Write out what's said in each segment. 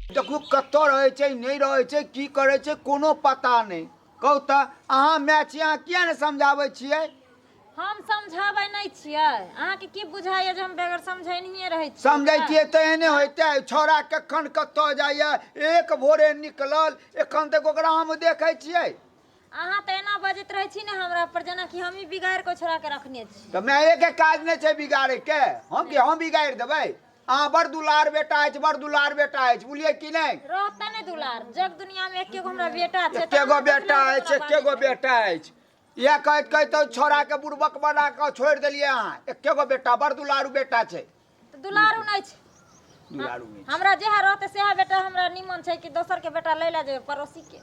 देखू कतऽ रहै छै नहि रहै छै की करै छै कोनो पता नहि कहू तऽ अहाँ माय छी अहाँ किया नहि समझाबै छियै हम समझाबै नहि छियै अहाँके की बुझाइए जे हम बेगर समझेनिए रहै छी समझैतियै तऽ एहने होइते छौड़ा कखन कतऽ जाइए एक भोरे निकलल एखन तक ओकरा हम देखै छियै अहाँ तऽ एना बजैत रहै छी ने हमरा पर जेनाकि हमही बिगाड़ि कऽ छोड़ा के रखने छी तऽ मायके काज नहि छै बिगाड़ैके हम कि हम बिगाड़ि देबै अहाँ बड़ दुलार बेटा अछि बड़ दुलार बेटा अछि बुझलियै कि नहि रहतै ने दुलार जग दुनिया में एके गो हमरा बेटा छै एके गो बेटा अछि एके गो बेटा अछि इएह कहैत कहैत छोड़ाके बुड़बक बना कऽ छोड़ि देलियै अहाँ एके गो बेटा बड़ दुलारू बेटा छै तऽ दुलारू नहि छै दुलारू नहि छै। हमरा जएह रहतै सएह बेटा हमरा निमन छै कि दोसरके बेटा लै लए जेबै पड़ोसीके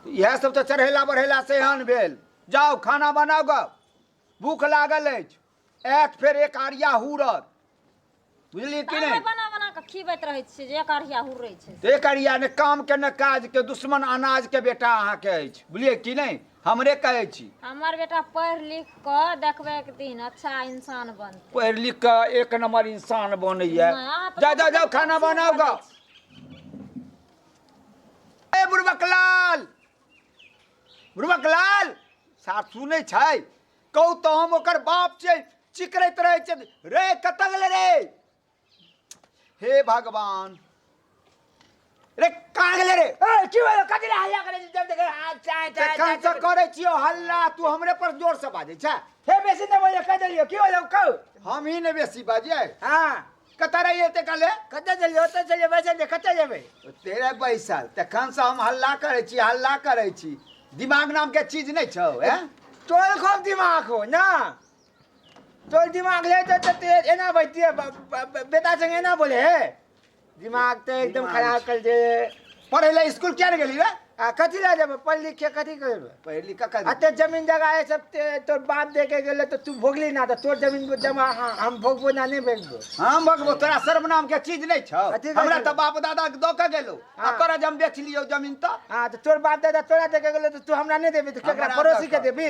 इएह सब तऽ चढ़ेला बढ़ेला से एहन भेल जाउ खाना बनाउ गऽ भूख लागल अछि आयत फेर एक आरिया हुरत बुझलियै कि अहाँ नहि बना बना कऽ खिबैत रहै छियै जे एक अढ़िया हुरै छै एक अरिया ने काम के ने काज के दुश्मन अनाज के बेटा अहाँके अछि बुझलियै कि नहि हमरे कहै छी हमर बेटा पढ़ि लिख कऽ देखबै एक दिन अच्छा इंसान बनतै पढ़ि लिख कऽ एक नंबर इंसान बनैया नहि, अहाँ तऽ जा जा जाओ खाना बनाओ गा ए बुढ़बक लाल बुढ़बक लाल साफ सुनै छै कहू तऽ हम ओकर बाप छै चिकरैत रहै छै रे कतऽ गेलै रे हे भगवान रे कहाँ गेले रे ए, की भेलो कथी ले हल्ला करे छी जब देखे हाथ चाय ते चाय कहाँ से करे छियो हल्ला तू हमरे पर जोर से बाजे छै हे बेसी न बोले कह देलियो की भेलो कहू हम ही ने बेसी बाजे हां कतऽ रही एते काले कतऽ चलियो ओतऽ चलियो बैसल जे कतऽ जेबै तेरे बैसल तखन से हम हल्ला करे छी हल्ला करे छी दिमाग नाम के चीज नहीं छौ ए तोर खूब दिमाग हो ना तोर दिमाग ले तो तो तेज है ना बच्ची है ब- ब- ब- बेटा संग है ना बोले है दिमाग तो एकदम खराब कर दे पढ़े ला स्कूल क्या गेली रे आ कथी ला जब पढ़ लिख के कथी करबे पढ़ लिख का आ ते जमीन जगह है सब ते तोर बाप दे के गेले तो तू भोगली ना तो तोर जमीन को जमा हाँ, हम भोगबो ना नहीं भोगबो हम भगबो तोरा शर्म नाम के चीज नहीं छौ कथी कहै हमरा छौ? तऽ बाप दादा के दऽ के गेलौ आ हाँ। तोरा जे हम बेच लियौ जमीन तऽ हाँ तो तोर बाप दादा तोरा दे के गेले तो तू हमरा नहीं देबी तो केकरा हमरा पड़ोसी के दे। देबी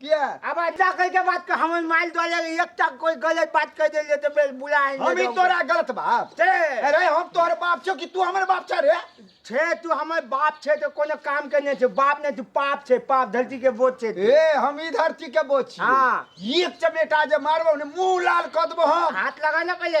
किया अब ऐसा कह के बात कर हम माइल दो ले एक तक कोई गलत बात कह दे तो बे बुला है हम ही तोरा गलत बाप छे अरे हम तोहर बाप छो कि तू हमर बाप छ रे छे तू हमर बाप छे तो कोनो काम के नहीं छे बाप नहीं तू पाप छे पाप धरती के बोझ छे तू। ए हम ही धरती के बोझ छी हाँ। एक चमेटा जे मारबो ने मुंह लाल क देबो हम हाथ लगा ना पहले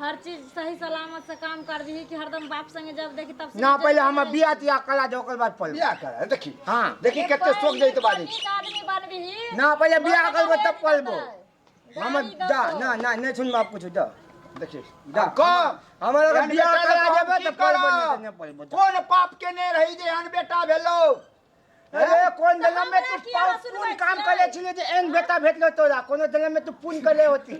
हर चीज सही सलामत से काम कर दी कि हरदम बाप संगे जब देखी तब से ना पहले हम बिया तिया कला दे ओकर बाद पढ़ बियाह करा देखी हां देखी कते सोच जाई त बात आदमी बनबी ना पहले बियाह करबो तब पढ़बो हम जा ना ना नहीं सुन बाप कुछ जा देखी जा को हमरा के बियाह करा देबे त पढ़बो नहीं पढ़बो कौन पाप के ने रही जे अन बेटा भेलो अरे कोन दला में तू पून काम करे छिले जे एन बेटा भेटलो तोरा कोनो दला में तू पून करे होती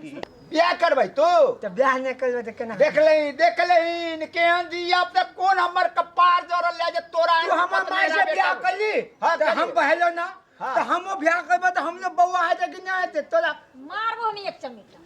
बियाह करबै तू त बियाह नै करबै त केना देख ले देख ले इन केहन जी अब तक कोन हमर कपार जोरल ले जे तोरा तू हमर माय से बियाह करली हां त हम बहलो ना त हमो बियाह करबै त हमने बौआ है कि नै हेते तोरा मारबो नै एक चमेटा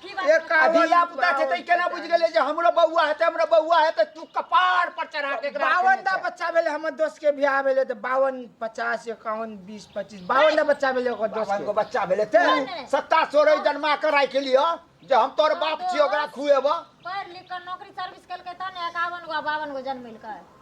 धिया पुता छै तै केना बुझि गेलै जे हमरो बौआ हेतै हमरो बौआ हेतै तू कपार पर चढ़ा के एकरा बावन टा बच्चा भेलै हमर दोस्त के बियाह भेलै तऽ बावन पचास एकावन बीस पच्चीस बावन टा बच्चा भेलै ओकर दोस्त बावन गो बच्चा भेलै ते सत्ता सोरह जन्मा के राखि लिअ जे हम तोर बाप छियै ओकरा खुएबऽ पढ़ लिख के नौकरी सर्विस केलकै तब ने एकावन गो बावन गो जन्मेलकै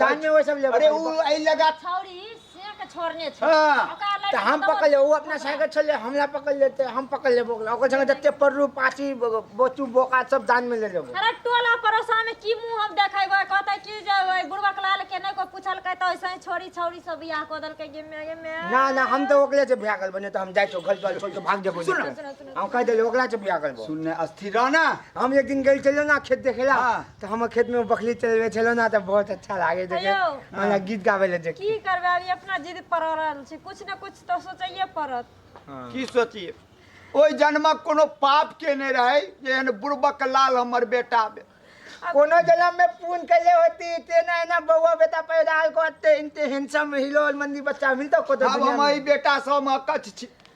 कान में वो सब ले अरे उ आई लगा छौरी से के छोड़ने छै हाँ, ओकरा लड़की तऽ हम दौड़- पकड़ ले ओ अपना साइकिल छले हमला पकड़ लेते हम पकड़ लेबो ओकरा ओकर संगे जते पड़रू पाची बोचू बोका सब दान में ले लेबो अरे टोला पड़ोसा में की मुंह हम देखेबै कहतै कि जे ओइ बुढ़वा के लाल के नै को पूछलकै तऽ ऐसे ही छोरी छौरी सब बियाह कऽ देलकै गे मे गे मे ना ना हम तो ओकरे से बियाह करबो नहीं तो हम जाए छो घर द्वार छोड़ के भाग जेबो सुन, नहीं सुन, तो। सुन। हम कह देले ओकरा से बियाह करबो सुनने अस्थिर रह ना हम एक दिन गई चलो ना खेत देखेला हाँ। तऽ हमर खेतमे बकरी चलबै छलहुँ ने तऽ बहुत अच्छा लागै देखे हेलो। हमरा गीत गाबै लए देख की करबै अभी अपना जिद पर रहल छी कुछ ने कुछ तऽ सोचैये पड़त की सोचिए ओहि जन्मक कोनो पाप केने रहै जे एहन बुड़बक लाल हमर बेटा भेल। कोनो जन्म में पून कैले होती तेना एना बौआ बेटा पैदा हल करते इनते हैंडसम हिलोल मंदी बच्चा मिलता को तो आब दुनिया हम में। एहि बेटासँ हम अकच्छ छी